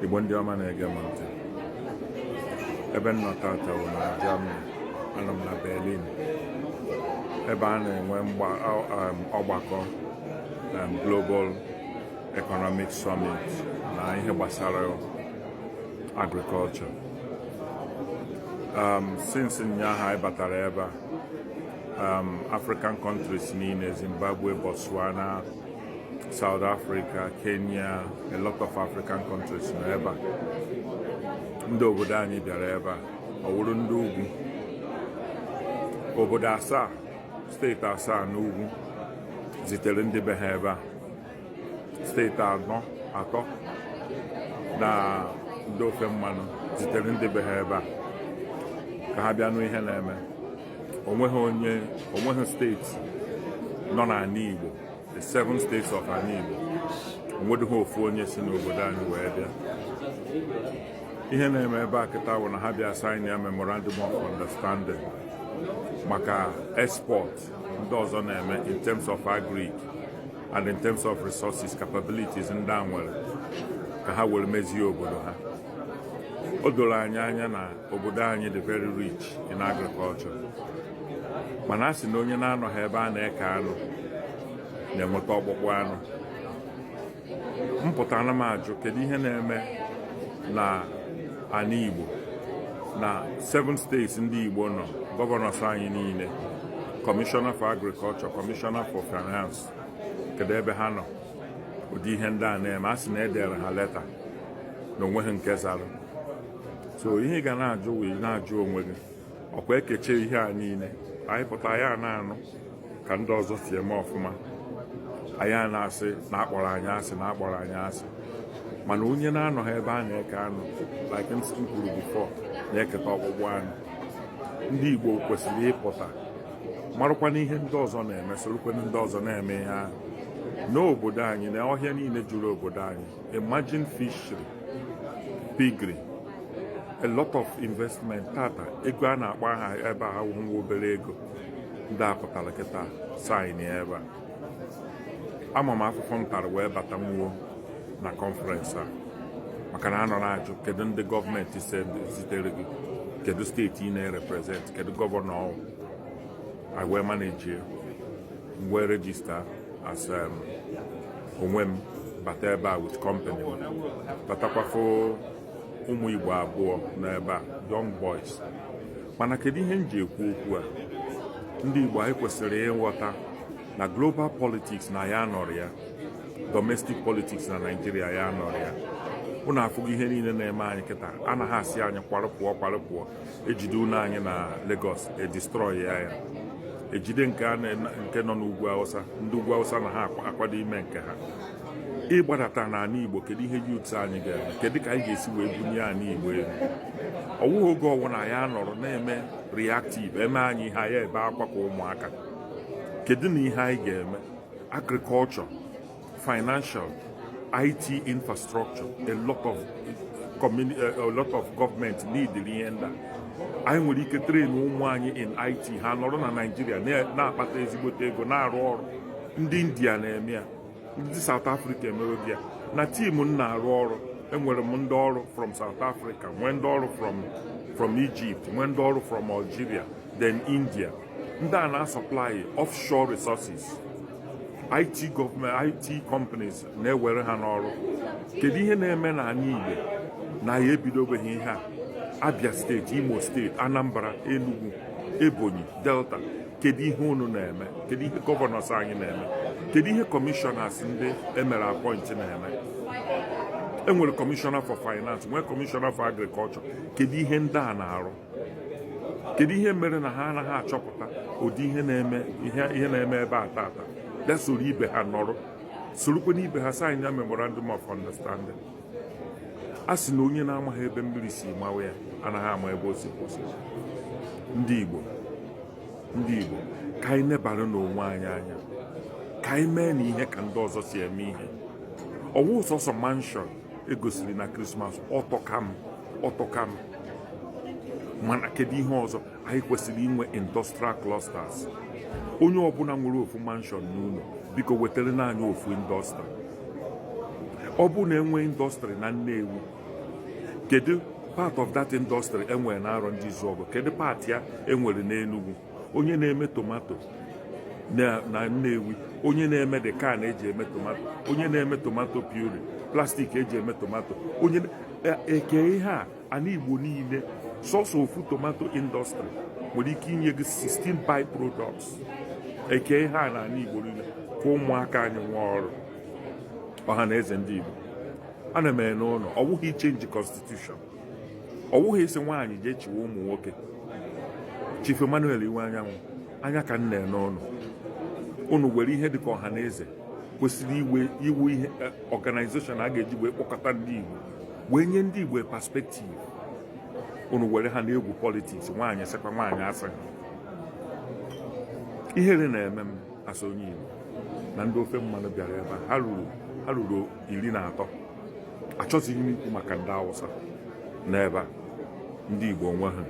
igbo ndị ọma na-ege m ntị ebe m nọ tata wụ na Germany anọ m na Berlin ebe a na-enwe mgba- ọ- um, ọgbakọ um, Global Economic Summit na ihe gbasara agriculture um, since ụnyaahụ anyị batara ebe a um, African countries niile Zimbabwe, Botswana, South Africa, Kenya, a lot of African countries nọ ebe a ndị obodo anyị bịara ebe a ọ wụrụ ndị ugwu obodo asaa steeti asaa n'ugwu zitere ndị be ha ebe a steeti anọ atọ na ndị ofe mmanụ zitere ndị be ha ebe a ka ha bịa nụ ihe na-eme o nweghị onye o nweghị steeti nọ n'anị Igbo the seven states of anị Igbo nwedịghị ofu onye si n'obodo anyị wee bịa ihe na-eme ebe a kịta wụ na ha bịa sign ya memorandum of understanding maka export ndị ọzọ na-eme in terms of agric and in terms of resources capabilities ndị a nwere ka ha were mezie obodo ha o doro anyị anya na obodo anyị dị very rich in agriculture mana a sị na onye na-anọghị ebe a na-eke anụ na-enweta ọkpụkpụ anụ m pụta ana m ajụ kedu ihe na-eme na anị Igbo na seven states ndị Igbo nọ gọvanọs anyị niile kọmishọna for agrikọlchọ kọmishọna for finance kedu ebe ha nọ ụdị ihe ndị a na-eme a sị na e dere ha leta na o nweghị nke zara so ihe ị ga na-ajụ wee na-ajụ onwe gị ọ kwa e kechaa ihe a niile anyị pụta anyị a na-anụ ka ndị ọzọ si eme ọfụma anyị a na-asị na a kpọrọ anyị asị na a kpọrọ anyị asị mana onye na-anọghị ebe a na-eke anụ like m kwuru bifọ na-eketa ọkpụkpụ anụ ndị Igbo kwesịrị ịpụta marakwanụ ihe ndị ọzọ na-eme sorokwanụ ndị ọzọ na-eme ihe ahụ n'obodo anyị na ọhịa niile juru obodo anyị Imagine fishery, piggery, a lot of investment tata ego a na-akpọ aha ebe a wụ nwa obere ego ndị a pụtara kịta saịn ya ebe a ama m afụfụ m tara wee bata nwuo na kọnferensị a maka na a nọ na-ajụ kedu ndị gọọmentis zitere gị kedu steeti ị na-ereprezent kedu gọvanọ ọ wụ m wee manage ya wee rejista as um, onwe m bata ebe a with company m batakwa fụ ụmụ Igbo abụọ nọ ebe a young boys mana kedu ihe m ji ekwu okwu a ndị Igbo anyị kwesịrị ịghọta na global politics na ya nọrọ ya domestic politics na Naịjirịa ya nọrọ ya ụnụ afụgo ihe niile na-eme anyị kịta anaghị asị anyị kwarụpụọ kwarụpụọ ejide ụlọ anyị na Lagos edistrọị ya ya ejide nke nọ n'ugwu Hausa ndị ugwu Hausa na ha akwado ime nke ha ị gbadata n'ana Igbo kedu ihe youths anyị ga-eme kedu ka anyị ga-esi wee bunie ana Igbo elu ọwụghị oge ọbụna anyị anọrọ na-eme reactive eme anyị ihe anyị ebe akwa ka ụmụaka kedu na ihe anyị ga-eme agriculture financial IT infrastructure a lot of government needịrị ihe ndị a anyị nwere ike train ụmụ anyị in IT ha nọrọ na Naịjirịa na-akpata ezigbote ego na-arụ ọrụ ndị India na-eme ya ndị South Africa emewe ya na team m na-arụ ọrụ enwere m ndị ọrụ from South Africa nwee ndị ọrụ from Egypt nwee ndị ọrụ from Algeria then India ndị a na-asọplai offshore resources IT companies na-ewere ha n'ọrụ kedu ihe na-eme na ana Igbo na anyị ebidobeghị ihe a Abia steeti Imo steeti Anambra Enugu Ebonyi Delta kedu ihe unu na-eme kedu ihe governors anyị na-eme kedu ihe commissioners ndị emere appoint na-eme enwere commissioner for finance nwee commissioner for agriculture kedu ihe ndị a na-arụ kedu ihe mere na ha anaghị achọpụta ụdị ihe na-eme ebe a tata bịa soro ibe ha nọrọ sorokwanụ ibe ha saịnịa memorandum of understanding a sị na onye na-amaghị ebe mmiri si mawa ya anaghị ama ebe o si kwụsị ndị Igbo ka anyị nebara n'onwe anyị anya ka anyị mee na ihe ka ndị ọzọ si eme ihe ọwụ sọsọ mansion egosiri na krismas ọ tọka m ọ tọka m mana kedu ihe ọzọ anyị kwesịrị inwe industrial clusters onye ọbụna nwere ofu mansion n'ụlọ biko wetara naanị ofu industry ọ bụ na enwe industry na Nnewi kedu part of that industry enwere na Arọndizuogu kedu part ya enwere n'Enugu onye na-eme tomato na Nnewi onye na-eme the can eji eme tomato onye na-eme tomato puree plastik eji eme tomato ekee ihe a na ana Igbo niile sọsọ ofu tomato industry nwere ike inye gị 16 by products ekee ihe a na ana Igbo niile ka ụmụaka anyị nwee ọrụ ọha na eze ndị Igbo ana m ene unu ọ wụghị ichenji constitution ọ wụghị ịsị nwaanyị jee chịwe ụmụ nwoke Chief Emmanuel Iwuanyanwụ anya ka m na-ene unu unu were ihe dịka Ọhanaeze kwesịrị ị ịwụ ihe e, organization a ga-eji wee kpọkọta ndị Igbo wee nye ndị Igbo perspective unu were ha na-egwu politics nwaanyị sekwa nwaanyị asị ihere na-eme m as onye Igbo na ndị ofe mmanụ bịara ebe a ha ruru iri na atọ achọzighị m ikwu maka ndị awụsa n'ebe a ndị igbo onwe ha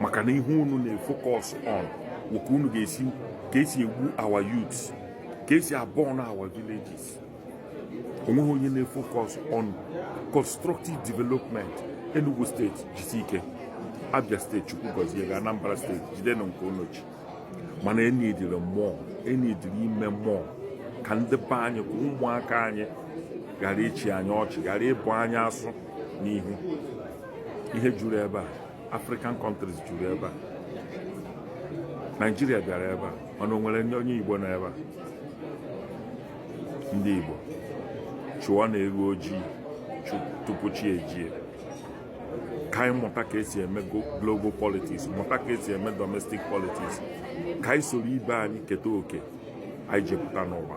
maka na ihe unu na-efocus on wụ ka unu ga-esi ka esi egbu our youths ka esi aburn our villages onweghị onye na-efocus on constructive development enugu steeti jisi ike abia steeti chukwu gọzie gị anambra steeti jidenụ nke unu ji mana e needịrị more e needịrị ime more ka ndị be anyị ka ụmụaka anyị ghara ịchị anyị ọchị ghara ịbụ anyị asụ n'ihu ihe juru ebe a african countries juru ebe a naijiria bịara ebe a mana o nwere nwere ndị onye igbo nọ ebe a ndị igbo chụọnụ eghu ojii tupu chi ejie ka anyị mụta ka esi eme global politics mụta ka esi eme domestic politics ka anyị soro ibe anyị keta oke anyị ji pụta n'ụwa